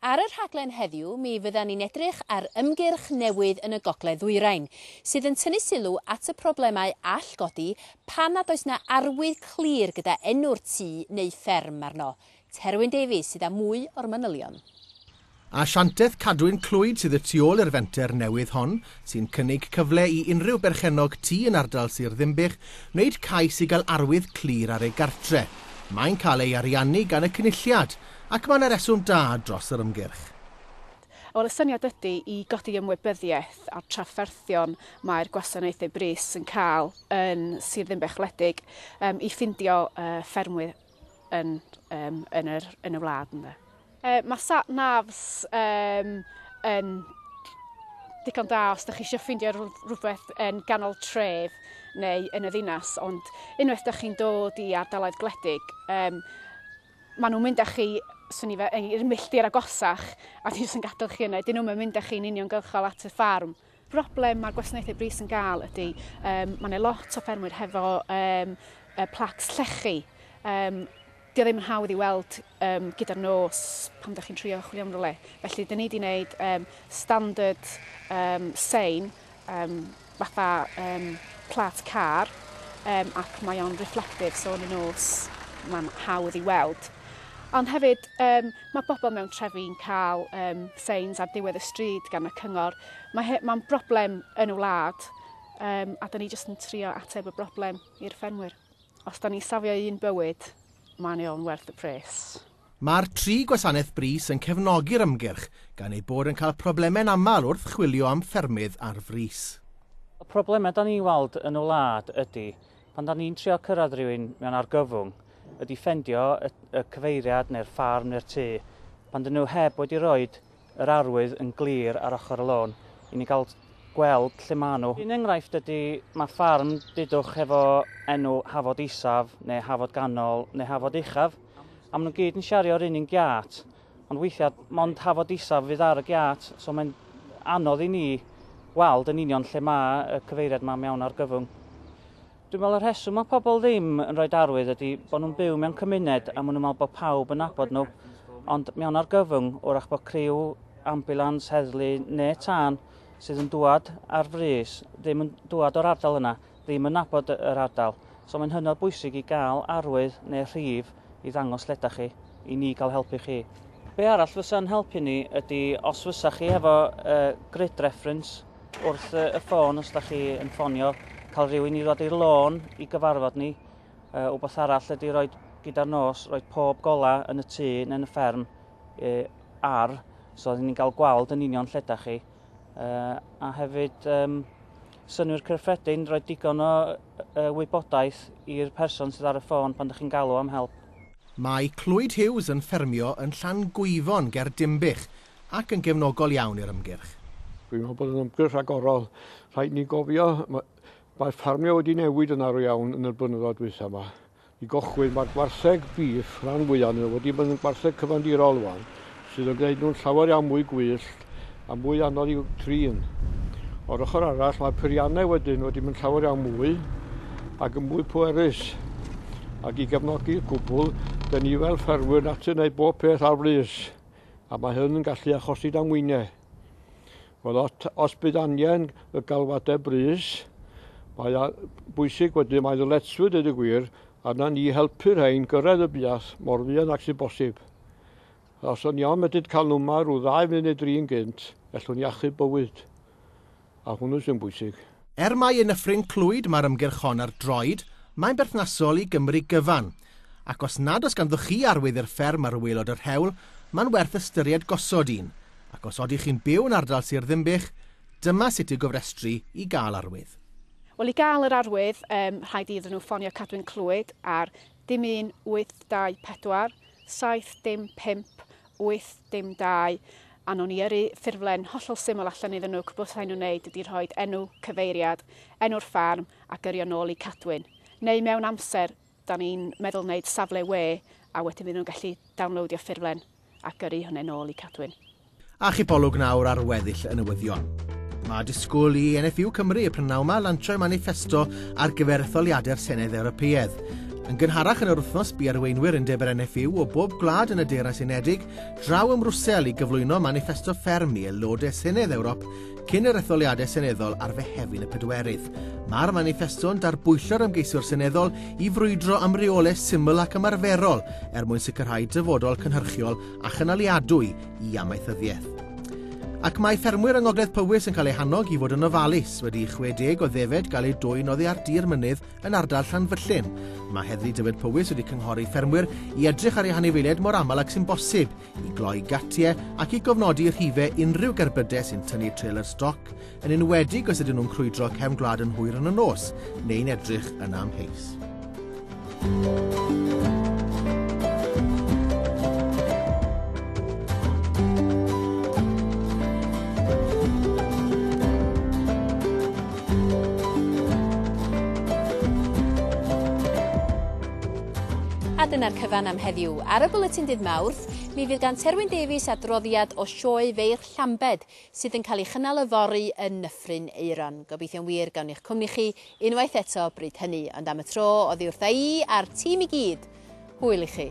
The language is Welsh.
Ar y rhaglen heddiw, mi fyddan ni'n edrych ar ymgyrch newydd yn y Gogledd Ddwyrain, sydd yn tynnu sylw at y problemau all godi pan nad oes 'na arwydd clir gyda enw'r tŷ neu fferm arno. Terwyn Davies sydd â mwy o'r manylion. Asianteth Cadwyn Clwyd sydd y tu ôl i'r fenter newydd hon, sy'n cynnig cyfle i unrhyw berchennog tŷ yn ardal Sir Ddinbych wneud cais i gael arwydd clir ar ei gartre'. Mae'n cael ei ariannu gan y Cynulliad, Ac mae 'na reswm da dros yr ymgyrch. Wel, y syniad ydy i godi ymwybyddiaeth a'r trafferthion mae'r gwasanaethau brys yn cael yn Sir Ddinbych wledig yym i ffindio yy ffermwyr yn yym yn yr yn y wlad ynde. Yy mae sat navs yym yn digon da os dych chi eisiau ffindio rhywbeth yn ganol tref neu yn y ddinas ond unwaith dych chi'n dod i ardaloedd gwledig yym Maen nhw'n mynd â chi, swn i fe, i'r milltir agosach a dwi jyst yn gadael chi yna. Dyn nhw'm yn mynd â chi'n uniongyrchol at y ffarm. Broblem mae'r gwasanaethau brys yn gael ydy, um, mae yna lot o ffermwyr hefo um, uh, placs llechi. Um, Dio ddim yn hawdd i weld um, gyda'r nos pam da chi'n trio chwilio am rhywle. Felly, dyn ni wedi gwneud um, standard um, sein um, fatha um, plat car um, ac mae o'n reflective, so yn y nos mae'n hawdd i weld. Ond hefyd, um, mae bobl mewn trefi'n cael um, signs ar diwedd y stryd gan y cyngor. Mae'n ma broblem yn y wlad um, a da ni jyst yn trio ateb y broblem i'r ffermwyr. Os da ni safio un bywyd, mae'n eol yn werth y pres. Mae'r tri gwasanaeth brys yn cefnogi'r ymgyrch, gan eu bod yn cael problemau'n aml wrth chwilio am ffermydd ar frys. Y problemau da ni'n weld yn y wlad ydy, pan da ni'n trio cyrraedd rhywun mewn argyfwng, ydy ffendio y y cyfeiriad neu'r ffarm neu'r tŷ, pan dyn nhw heb wedi rhoid yr arwydd yn glir ar ochr y lôn i ni gael gweld lle maen nhw. Un enghraifft ydy, mae ffarm dudwch hefo enw Hafod Isaf neu Hafod Ganol neu Hafod Uchaf. A maen nhw gyd yn siario'r un un giat, ond weithiau mond hafod isaf fydd ar y giat, so mae'n anodd i ni weld yn union lle mae y cyfeiriad yma mewn argyfwng. Dwi'n meddwl y rheswm mae pobl ddim yn rhoi arwydd ydy bod nhw'n byw mewn cymuned a maen nhw'n meddwl bod pawb yn nabod nhw. Ond mewn argyfwng, wrach bod criw, ambulans, heddlu neu tân sydd yn dŵad ar frys ddim yn dŵad o'r ardal yna. ddim yn nabod yr ardal. So mae'n hynod bwysig i gael arwydd neu rhif i ddangos lle ydych chi, i ni gael helpu chi. Be arall fysa'n helpu ni ydy os fysa chi hefo uh, grid reference wrth uh, y ffôn os da chi yn ffonio, cael rhywun i ddod i'r lôn i gyfarfod ni. Uh, wbeth arall ydy roed gyda'r nos, roed pob gola yn y tŷ neu'n y fferm uh, ar, so oeddwn ni'n cael gweld yn union lle da chi. uh, a hefyd um, synwyr cyffredin, roi digon o uh, wybodaeth i'r person sydd ar y ffôn pan ydych chi'n galw am help. Mae Clwyd Hughes yn ffermio yn Llan Gwyfon ger Dimbych ac yn gefnogol iawn i'r ymgyrch. Dwi'n meddwl bod yn ymgyrch agorol. Rhaid ni gofio, mae ffarmio wedi newid yn arw iawn yn y blynyddoedd dwytha yma. i gychwyn, mae'r gwartheg bîff, rhan fwyaf nhw, wedi bod yn gwartheg cyfandirol rwan, sydd yn gwneud nhw'n llawer iawn mwy gwyllt a mwy anodd i'w trin. O'r ochr arall, mae peiriannau wedyn wedi mynd llawer iawn mwy ac yn mwy pwerus. Ac i gefnogi'r cwbl, dyn ni fel ffermwyr natur wneud bob peth ar frys, a mae hyn yn gallu achosi damweiniau. Wel, os, os bydd angen y galwadau brys, mae bwysig wedyn, mae ddyletswydd dweud y gwir, arna ni helpu'r rhain gyrraedd y buath mor fuan ac sy'n bosib. Os o'n iawn medyd cael nhw yma rhyw ddau funud neu dri'n gynt, ellwn i achub bywyd. A hwnnw sy'n bwysig. Er mai yn Nyffryn Clwyd mae'r ymgyrch hon ar droed, mae'n berthnasol i Gymru gyfan, ac os nad oes ganddoch chi arwydd i'r fferm ar waelod yr hewl, mae'n werth ystyried gosod un, ac os odych chi'n byw yn ardal Sir Ddinbych, dyma sut i'w gofrestru i gael arwydd. Wel, i gael yr arwydd, um, rhaid iddyn nhw ffonio Cadwyn Clwyd ar dim un 824 7 dim 5 Wyth, dim dau. A nown i yrru ffurflen hollol syml allan iddyn nhw, cwbl rhaid nhw wneud ydy rhoi enw, cyfeiriad, enw'r ffarm ac yrru o nôl i Cadwyn. Neu mewn amser, da ni'n meddwl wneud safle we a wedyn fydd nhw'n gallu downloadio ffurflen a gyrru hwnne nôl i Cadwyn. Archipolwg nawr ar weddill y newyddion. Mae disgwyl i NFU Cymru y prynhawn 'ma lansio'i maniffesto ar gyfer etholiadau'r Senedd Ewropeaidd. Yn gynharach yn yr wythnos, bu arweinwyr Undeb yr NFU o bob gwlad yn y Deyrnas Unedig draw ym Mrwsel i gyflwyno maniffesto fferm i aelodau Senedd Ewrop cyn yr etholiadau seneddol ar Fehefin y Pedwerydd. Mae'r maniffesto'n darbwyllo'r ymgeiswyr seneddol i frwydro am reolau syml ac ymarferol er mwyn sicrhau dyfodol cynhyrchiol a chynaliadwy i amaethyddiaeth. Ac mae ffermwyr yng Ngogledd Powys yn cael eu hannog i fod yn ofalus wedi i 60 o ddefed gael eu dwyn oddi ar dir mynydd Yn ardal Llanfyllin, mae Heddlu Dyfed Powys wedi cynghori ffermwyr i edrych ar eu hanifeiliaid mor aml ac sy'n bosib, i gloi gatiau ac i gofnodi rhife unrhyw gerbydau sy'n tynnu trailer stoc, yn enwedig os ydyn nhw'n crwydro cefn gwlad yn hwyr yn y nos, neu'n edrych yn amheus. A dyna'r cyfan am heddiw. Ar y Bwletin Dydd Mawrth, mi fydd gan Terwyn Davies adroddiad o sioe Feirch Llambed sydd yn cael ei chynnal yfory yn Nyffryn Aeron. Gobeithio'n wir gawn i'ch cwmni chi unwaith eto bryd hynny, ond am y tro, oddi wrtha i a'r tîm i gyd, hwyl i chi!